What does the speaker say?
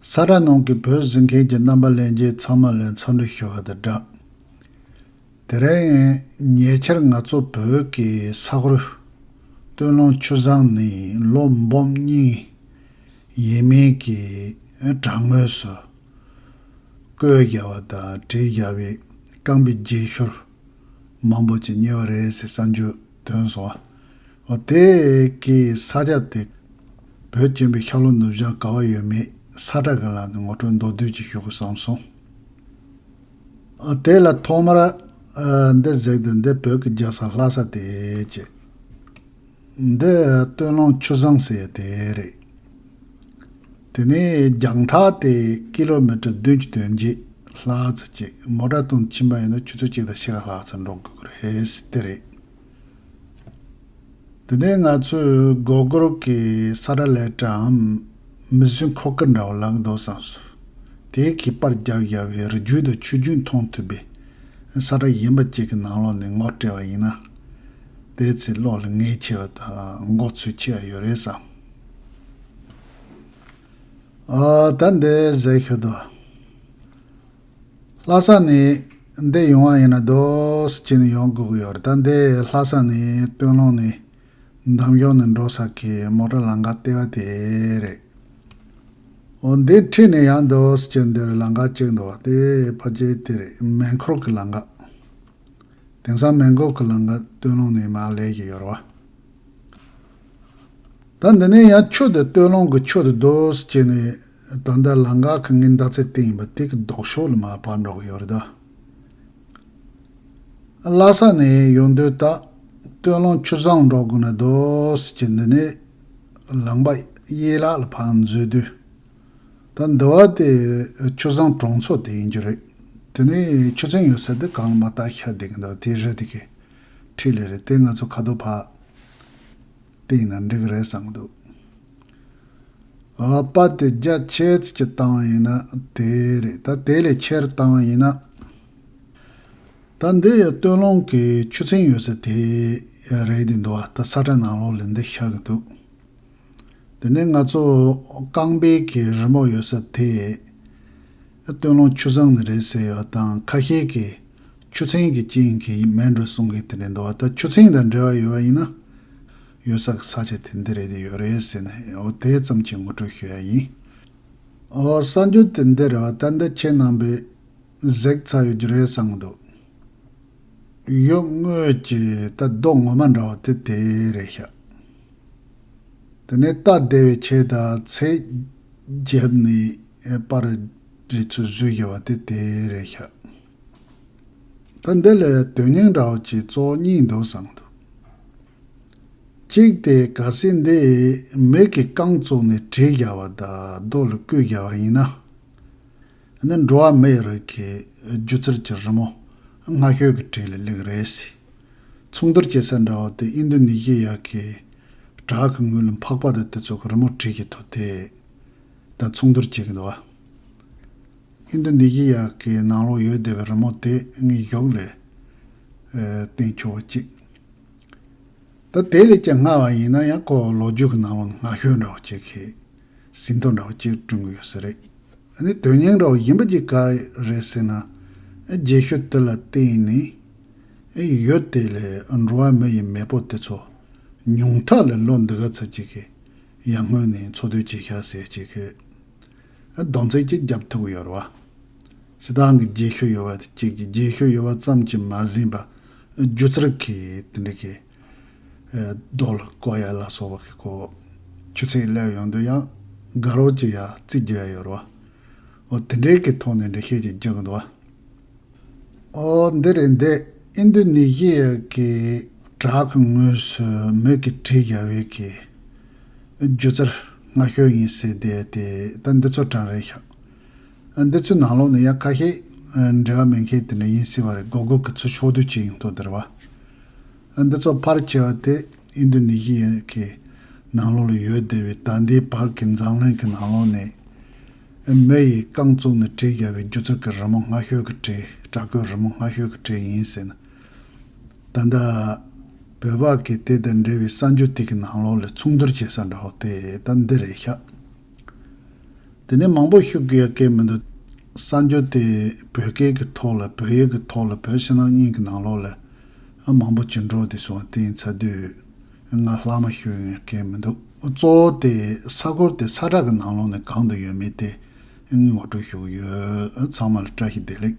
ས་དྲ་ནང་གི་བོད་གཟིགས་མཁན་གྱི་རྣམ་པ་ལེན་རྗེས་ཚང་མ་ལན་ཚོ་འདྲི་ཞུ་བ་དང་སྦྲགས། དེ་རིང་ཉེ་ཆར་ང་ཚོ་བོད་ཀྱི་ས་ཁུལ། སྟོད་ལུང་ཆུ་བཟང་ནི་ལོ་འབུམ་རྙིང་ཡིན་མིན་གྱི་བྲག་ངོས་སུ། བརྐོས་བཞག་པ་དང་བྲིས་བཞག་པའི་རྐང་པའི་རྗེས་ཤུལ། མང་པོ་ཅིག་ཉེ་བ་རེད་ཟེར་ས་འཇུ་དོན་སོང་བ། འོ་དེ་ཀི་ས་ཆ་དེ། བོད་སྐྱོན་པའི་ཤག་ལོ་ནུབ་བྱང་ག་བ་ཡོད་མེད་ས་ཁྲ་གི་ལག་ནས་ངོ་སྤྲོད་མདོ་བསྡུས་ཅིག་ཞུ་དགོས་བསམ་སོང། དེ་ལ་ཐོག་མར། འདི་གཟིགས་དུས་འདི་བོད་ཀི་རྒྱ་ས་ལྷ་ས་དེ་ཅེས། འདི་སྟོད་ལུང་ཆུ་བཟང་ཟེར་བ་དེ་རེད། དེ་ནས་རྒྱང་ཐག་སྟེ་ཀི་ལོ་མི་ཀྲི་བདུན་ཅུ་དོན་བརྒྱད་ལྷག་ཙི་ཅིག་མོ་དགྲ་དོང་ཕྱིན་པ་ཡིན་ན་ཆུ་ཚོད་གཅིག་དང་ཕྱེད་ཀ་ལྷག་ཙི་འགྲོ་དགོས་ཀྱི་རེད་དེ་རེད། དེ་ནས་ང་ཚོས་སྒོ་སྒོར་གྱི་ས་ར་ལས་གྲའམ་མི་བཟོས་འཁོར་སྐར་འདྲ་བ་ལག་འདོགས་སམ་སུ་དེ་གི་པར་རྒྱག་ཡ་བའི་རི་རྒྱུད་དང་ཆུ་རྒྱུད་མཐོང་ཐུབ་པའི་ས་ར་གཞན་པ་ཅིག་གི་ནང་ལོག་ནས་ངོ་སྤྲད་པ་ཡིན་ན། དེའི་ཚེ་གློག་ལ་ངལ་ཆེ་བ་དང་འགོག་ཚུལ་ཅི་ཡང་ཡོད་རེད་བསམ། ད་འདི་ཟེར་ཤོད་དོ། ལྷ་ས་ནས་འདི་ཡོང་བ་ཡིན་ན་རྡོས་ཀྱི་ནས་ཡོང་དགོས་ཀྱི་ཡོད་རེད་ད་འདི་ལྷ་ས་ནས་སྟོད་ལུང་ནས་འདམ་གཞོང་ནས་འགྲོ་ས་ཀྱི་མོ་ཏྲ་ལང་ཀ་ལྟེ་བ་དེ་རེད། འོ་འདི་འཁྲིས་ནས་ཡང་རྡོས་ཀྱི་འདིར་ལང་ཀ་གཅིག་འདུག་བ་དེ་ཕ་རྗེས་དེ་རེད་མེ་འཁོར་གྱི་ལང་ཀ། དེང་སང་མེན་གོག་གི་ལང་ཀ་སྟོད་ལུང་ནས་མར་ལས་ཀྱི་ཡོར་བ། ད་འདི་ནས་ཡང་ཆོས་དེ་སྟོད་ལུང་གི་ཆོས་དེ་འདོད་ཅེས་ནས་ད་ལྟ་ལང་ཀ་གི་ངའི་འདག་ཚད་དེ་ཡིན་པ་དེ་གི་ལྡོག་ཕྱོགས་ལ་མ་བར་འགྲོ་གི་ཡོད་རེད་ད། ལ་ས་ནས་ཡོང་དུས་ད་སྟོད་ལུང་ཆུ་བཟང་འགྲོ་དགོས་ན་འདོད་ཅེས་འདི་ནས་ལང་པ་གཡས་ལག་ལ་བར་འཛུལ་དུས། ད་འདི་བ་དེ་ཆུ་བཟང་གྲོང་ཚོ་དེ་ཡིན་རྒྱུ་རེད། དེ་ནས་ཆུ་ཚན་ཡོད་ས་དེ་གང་ལ་མ་བརྟག་ཤ་བསྡད་ཀྱི་འདུག་དེ་རེད་དེ་གས། ཁྲིད་ལེ་རེད་དེ་ང་ཚོ་ཁ་དོག་བག་དེ་ཡིན་ན་འགྲིག་གི་རེད་བསམ་གྱི་འདུག་ཨ་པ་དེ་རྒྱ་ཆེས་ཀྱི་བཏང་ཡིན་ན་དེ་རེད་ད་དེ་ལས་ཆེར་བཏང་ཡིན་ན། ད་འདི་ཡི་སྟོད་ལུང་གི་ཆུ་ཚན་ཡོད་ས་དེ་རེད་དེ་འདི་བ་ད་ས་ཁྲ་ནང་ལོགས་ལས་འདི་ཤ་གྱི་འདུག། དེ་ནས་ང་ཚོ་རྐང་སྦལ་གྱི་རི་མོ་ཡོད་ས་དེ་སྟོན་ལོང་ཆུ་བཟང་ནས་རེད་ཟེར་ཡོད་དང་ཁ་ཤས་ཀྱིས་ཆུ་ཚན་གྱི་རྐྱེན་གྱིས་མེད་འགྲོ་གསུང་གིས་དེ་ནས་འདུག་བ་ད་ཆུ་ཚན་དང་འབྲེལ་བ་ཡོད་བ་ཡིན་ན་ཡོད་ས་གི་ས་ཆ་དེ་འདི་རེད་འདི་ཡོད་རེད་ཟེར་ནས་ཨོ་དེ་ཙམ་གྱིས་ངོ་སྤྲོད་ཞུ་ཡ་ཡིན། ཨོ་གསར་འགྱུར་དེ་འདི་རེད་བ་ད་འདི་ཁྱེད་རྣམ་པས་གཟིགས་ཚར་ཡོད་རྒྱུ་རེད་བསམ་གྱི་འདུག། གཡོག་དངོས་ཀྱི་རྟ་རྡོག་ངོ་མ་འདྲ་བ་དེ་དེ་རེད་ཤག། དེ་ནས་རྟ་བདེ་བའི་ཆེད་དང་ཚེ་རྒྱབ་ནས་པར་རིས་ཚོད་བཟོས་བཞག་པ་དེ་དེ་རེད་ཤག། ད་འདི་ལ་དོན་སྙིང་འདྲ་བ་གྱི་གཙོ་བོ་གཉིས་འདུག་བསམ་འདུག་གཅིག་དེ་ག་སེ་འདི་མིག་གི་རྐང་བཙུགས་ནས་བྲིས་བཞག་པ་དང་རྡོ་ལ་བརྐོས་བཞག་པ་ཡིན་ན། འདི་འགྲོ་བ་མིའི་རིགས་ཀྱི་སྒྱུ་རྩལ་གྱི་རི་མོ་སྔ་ཤོས་ཀྱི་གྲས་ལས་ལེགས་རེད་སྲིད། མཚུངས་བསྡུར་བྱེད་ས་འདྲ་བོ་དེ་ཨིན་རྡུ་ནི་ཞི་ཡ་གི་བྲག་གི་ངོས་ལ་འཕགས་པ་དང་དེ་ཚོ་གི་རི་མོ་བྲིས་ཀྱི་ཐོ་དེ་དང་མཚུངས་བསྡུར་བྱེད་ཀྱི་འདུག་བ། ཨིན་རྡུ་ནི་ཞི་ཡ་གི་ནང་ལོགས་ཡོད་བསྡད་པའི་རི་མོ་དེ་ངའི་གཞོགས་ལས་བསྟན་ཆོག་བ་ཅིག་འདུག་དེ་ལས་ཀྱང་སྔ་བ་ཡིན་ན་ཡང་ཁོ་ལོ་རྒྱུས་ཀྱི་ནང་ལོགས་ནས་སྔ་ཤོས་འདྲ་བོ་ཅིག་གིས་ཟིན་ཐོ་འདྲ་བོ་ཅིག་བསྐྲུན་གྱི་ཡོད་ས་རེད། འདི་དོན་སྙིང་རགས་ཡིན་པ་ཅིག་ག་རེད་ཟེར་ན། རྗེས་ཤུལ་དེ་ལ་བརྟེན་ནས་ཡོད་དེ། འགྲོ་བ་མི་ཡི་མེས་པོ་དེ་ཚོ་ཉུང་ཐག་ལས་ལོ་འདི་ག་ཚོད་ཅིག་གི་ཡར་སྔོན་ནས་འཚོ་སྡོད་བྱེད་ཤག་ཟེར་ཅིག་གི་སྡོམ་ཚིག་ཅིག་བརྒྱབ་ཐུབ་ཀྱི་ཡོད་རེད། ཞེ་སྡང་གི་རྗེས་ཤུལ་ཡོད་པ་དེ་གཅིག་རྗེས་ཤུལ་ཡོད་པ་ཙམ་གྱིས་མ་ཟིན་པར་སྒྱུ་རྩལ་གྱིས་དེ་འདྲ་གི། རྡོལ། ཀོ་ཡ་ལ་སོགས་པ་གི་གོ། ཆུ་ཚད་སླེབས་ཡོང་དུས་ཡང་དགའ་རོགས་ཀྱི་ཡ་བརྩི་རྒྱུ་ཡ་ཡོད་རོ། འོ་དེ་འདྲའི་གི་ཐོག་ནས་འདྲི་ཤེས་ཀྱི་རྒྱུ་གི་འདུག་ཨ། འོ་འདི་རེད་འདི་ཨིན་དུ་ནི་ཞི་ཡ་གི་བྲག་གི་ངོས་སུ་མོད་ཀི་བྲིས་རྒྱ་བོད་ཀི་རྒྱུ་རྩར་སྔ་ཤོས་ཡིན་སེ་བསྡད་དེ་ད་འདི་ཚོ་གྲངས་རེད་ཤག་འདི་ཚོའི་ནང་ལོགས་ནས་ཡག་ཁ་ཤས་འབྲེལ་བ་མེད་མཁན་དེ་འདྲ་ཡིན་སྲིད་པ་རེད་དགོས་དགོས་ཀྱི་ཚུལ་ཕྱོགས་བསྡུས་བྱས་ཡིན་དོ་དེར་བ། འདི་ཚོ་ཕར་ཁྱེར་བ་དེ་ཨིན་དུ་ནི་ཞི་ཡའི་གི་ནང་ལོགས་ལ་ཡོད་བསྡད་པའི་ད་ལྟའི་བར་གྱི་མཛངས་བླུན་གྱི་ནང་ལོགས་ནས། མི་ཡིས་རྐང་བཙུགས་ནས་གྲི་རྒྱག་པའི་རྒྱུ་ཚོགས་ཀྱི་རི་མོ་སྔ་ཤོས་ཀྱི་གྲི་བྲག་གོས་རི་མོ་སྔ་ཤོས་ཀྱི་གྲི་ཡིན་སྲིད་ན། ད་ལྟ། བོད་པ་གིས་དེ་དང་འབྲེལ་བའི་གསར་འགྱུར་དེ་གི་ནང་ལོགས་ལས་མཚུངས་བསྡུར་བྱེད་ས་འདྲ་བོ་དེ་ད་འདི་རེད་ཤག། དེ་ནས་མང་པོ་ཤུགས་ཀྱིས་ཡར་བསྐྱེད་མི་འདུག། གསར་འགྱུར་དེ་བོད་སྐད་ཀྱི་ཐོག་ལ་བོད་ཡིག་གི་ཐོག་ལ་བོད་ཕྱི་ནང་གཉིས་ཀྱི་ནང་ལོགས་ལས། མང་པོ་ཇེ་འགྲོ་དེ་སོང་དེ་ཡིན་ཚ་དུས། ང་ལྷག་མ་ཤུགས་ཡིན་བསྐྱེད་མི་འདུག་གཙོ་བོ་དེ་ས་གོར་དེ་ས་བསྒྲགས་ཀྱི་ནང་ལོགས་ནས་གང་དུ་ཡོད་མེད་དེ། ངོ་སྤྲོད་ཞུ་གི་ཡོད། ཚང་མ་ལ་བཀྲ་ཤིས་བདེ་ལེགས།